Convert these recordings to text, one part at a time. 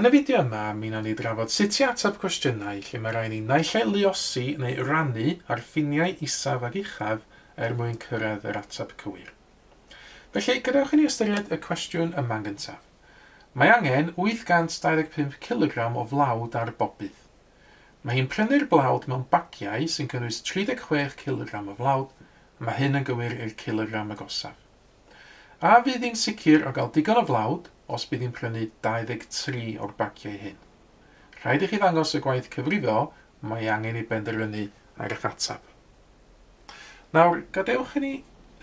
Yn y fideo yma, mi wnawn ni drafod sut i ateb cwestiynau lle mae rhai ni naill ai luosi neu rannu ar ffiniau isaf ac uchaf er mwyn cyrraedd yr ateb cywir. Felly, gadewch i ni ystyried y cwestiwn yma'n gyntaf. Mae angen 825 cilogram o flawd ar bob byth. Mae hi'n prynu'r blawd mewn bagiau sy'n cynnwys 36 cilogram o flawd, a mae hyn yn gywir i'r cilogram agosaf. A fydd hi'n sicr o gael digon o flawd os bydd hi'n prynu 23 o'r bagiau hyn? Rhaid i chi ddangos y gwaith cyfrifo mae angen i benderfynu ar eich ateb. Nawr, gadewch i ni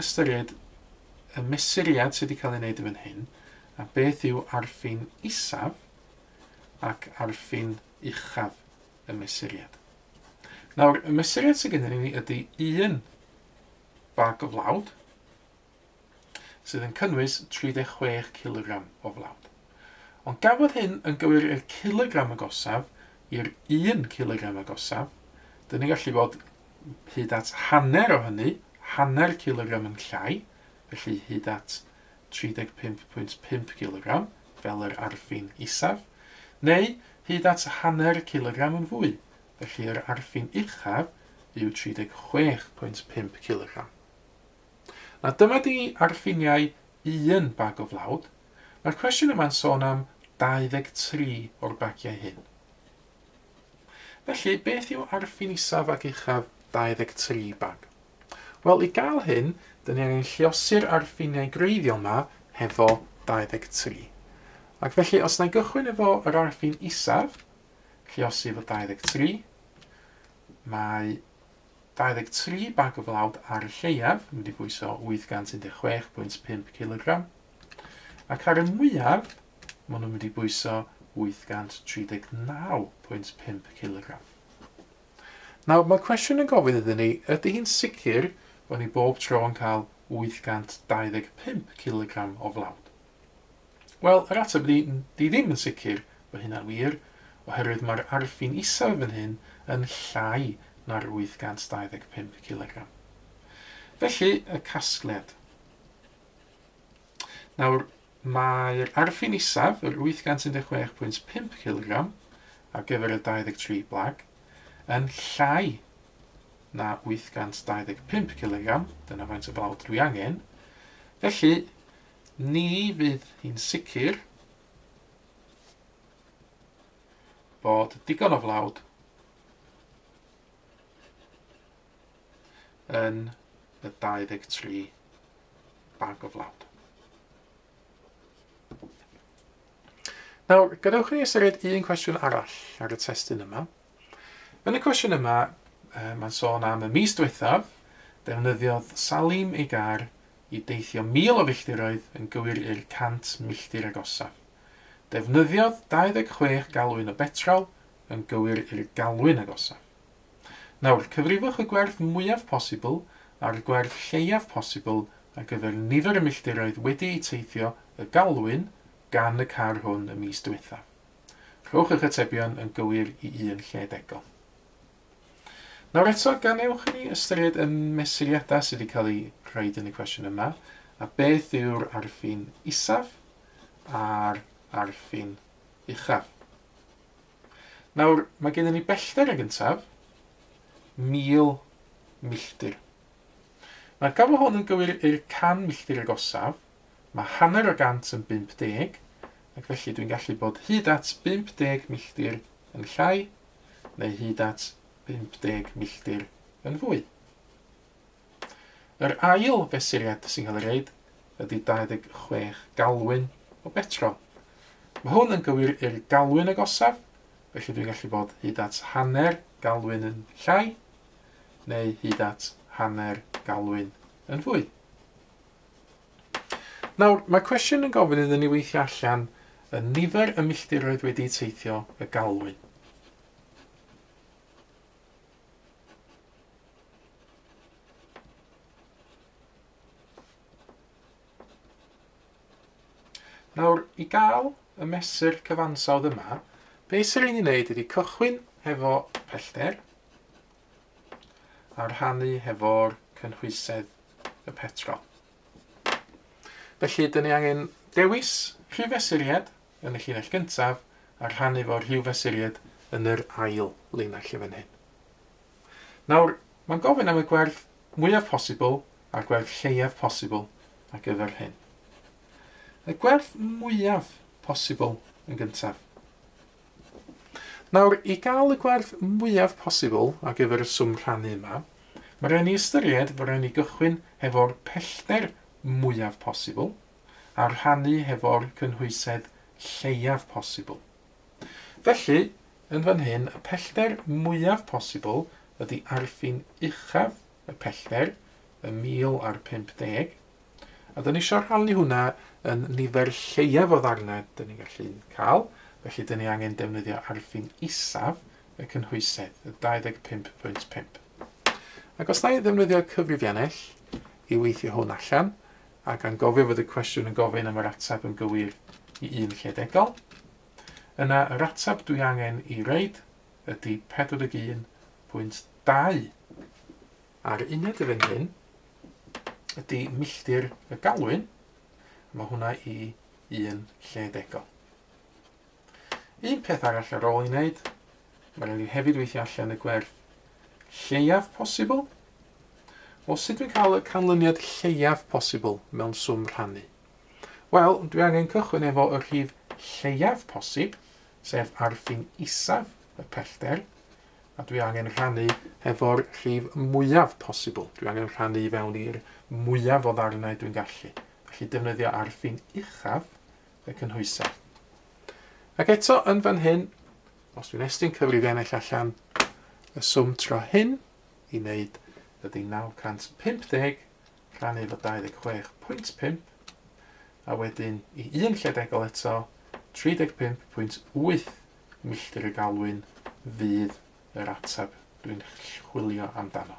ystyried y mesuriad sydd wedi cael ei wneud yn fan hyn, a beth yw arffin isaf ac arffin uchaf y mesuriad. Nawr, y mesuriad sydd gennym ni ydy un Bag o flawd sydd yn cynnwys 36 cilogram o flawd. Ond gafodd hyn yn gywir i'r cilogram agosaf i'r un cilogram agosaf. Dyn ni'n gallu bod hyd at hanner o hynny, hanner cilogram yn llai, felly hyd at 35.5 cilogram, fel yr arfin isaf, neu hyd at hanner cilogram yn fwy, felly yr arfin uchaf yw 36.5 cilogram. Na dyma di arfiniau un bag o flawd, mae'r cwestiwn yma'n sôn am 23 o'r bagiau hyn. Felly, beth yw arfin isaf ac uchaf 23 bag? Wel, i gael hyn, dyn ni angen lliosi'r arfiniau greiddiol yma hefo 23. Ac felly, os na i gychwyn efo yr arfin isaf, lluosif o 23. Mae 23 bag o flawd ar y lleiaf yn mynd i bwyso 816.5 cilogram, ac ar y mwyaf maen nhw'n mynd i bwyso 839.5 cilogram. Nawr, mae cwestiwn yn gofyn iddyn ni, ydy hi'n sicr bod ni bob tro yn cael 825 cilogram o flawd? Wel, yr ateb ydy, 'di ddim yn sicr bod hynna'n wir, oherwydd mae'r arfin isaf fan hyn yn llai na'r 825 cilogram. Felly, y casgliad. Nawr, mae'r arfin isaf, yr 816.5 cilogram, ar gyfer y 23 blag, yn llai na 825 cilogram, dyna faint o flawd dwi angen, felly Ni fydd hi'n sicr bod digon o flawd yn y 23 bag o flawd. Nawr, gadewch i ni ystyried un cwestiwn arall ar y testun yma. Yn y cwestiwn yma, mae'n sôn am y mis diwethaf, defnyddiodd Salim ei gar i deithio 1,000 o filltiroedd yn gywir i'r 100 milltir agosaf. Defnyddiodd 26 galwyn o betrol yn gywir i'r galwyn agosaf. Nawr, cyfrifwch y gwerth mwyaf posibl a'r gwerth lleiaf posibl ar gyfer nifer y milltiroedd wedi'u teithio y galwyn gan y car hwn y mis diwethaf. Rhowch eich atebion yn gywir i un lle degol. Nawr eto, gan ewch i ni ystyried y mesuriadau sydd wedi cael eu rhaid yn y cwestiwn yma, a beth yw'r arfin isaf a'r arfin uchaf. Nawr, mae gennym ni bellter ag yntaf, 1000 milltir. Mae'r gofal hwn yn gywir i'r 100 milltir agosaf, Mae hanner o gant yn 50, ac felly dwi'n gallu bod hyd at 50 milltir yn llai, neu hyd at 50 milltir yn fwy. Yr ail fesuriad sy'n cael ei reid ydy 26 galwyn o betrol. Mae hwn yn gywir i'r galwyn agosaf, felly dwi'n gallu bod hyd at hanner galwyn yn llai, neu hyd at hanner galwyn yn fwy. Nawr, mae cwestiwn yn gofyn iddyn ni weithio allan y nifer y milltiroedd wedi teithio y galwyn. Nawr, i gael y mesur cyfansawdd yma, beth sy'n rhaid i wneud ydy cychwyn hefo pellter, a rhannu hefo'r cynhwysedd y petrol. Felly, dyn ni angen dewis rhyw fesuriad yn y llinell gyntaf a rhannu fo rhyw fesuriad yn yr ail linell yn fan hyn. Nawr, mae'n gofyn am y gwerth mwyaf posibl a'r gwerth lleiaf posibl ar gyfer hyn. Y gwerth mwyaf posibl yn gyntaf. Nawr, i gael y gwerth mwyaf posibl ar gyfer y swm rhannu yma, mae rhaid ni ystyried fod rhaid ni gychwyn hefo'r pellter mwyaf posibl a rhannu hefo'r cynhwysedd lleiaf posibl. Felly, yn fan hyn, y pellter mwyaf posibl ydy arfin uchaf y pellter, y mil a'r pump deg, a dyn ni eisiau rhannu hwnna yn nifer lleiaf o ddarnau dyn ni'n gallu cael, felly dyn ni angen defnyddio arfin isaf y cynhwysedd, y 25.5. Ac os na i ddefnyddio cyfrifiannell i weithio hwn allan, ac a'n gofio fod y cwestiwn yn gofyn am yr atab yn gywir i un lle degol, yna yr atab dwi angen i reid ydy 41.2 a'r uned y fan hyn ydy milltir y galwyn, a mae hwnna i un lle degol. Un peth arall ar ôl i wneud, mae rhaid i hefyd weithio allan y gwerth lleiaf posibl. Wel, sut dwi'n cael y canlyniad lleiaf posibl mewn swm rhannu? Wel, dwi angen cychwyn efo y rhif lleiaf posib, sef ar ffin isaf y pellter, a dwi angen rhannu efo'r rhif mwyaf posibl. Dwi angen rhannu i fewn i'r mwyaf o ddarnau dwi'n gallu. Felly defnyddio ar ffin uchaf y cynhwysau. Ac eto yn fan hyn, os dwi'n estyn cyfrifiannell allan, y swm tro hyn i wneud ydy 950 rhannu efo 26.5 a wedyn i un lle degol eto, 35.8 milltir y galwyn fydd yr ateb dwi'n chwilio amdano.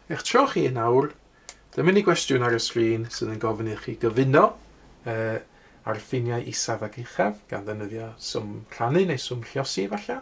Eich tro chi yn awr, dyma ni gwestiwn ar y sgrin sydd yn gofyn i chi gyfuno uh, ar ffiniau isaf ac uchaf, gan ddefnyddio swm rhannu neu swm lliosi efallai.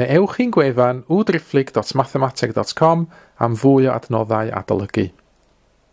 neu ewch i'n gwefan www.driphlyg.mathemateg.com am fwy o adnoddau adolygu.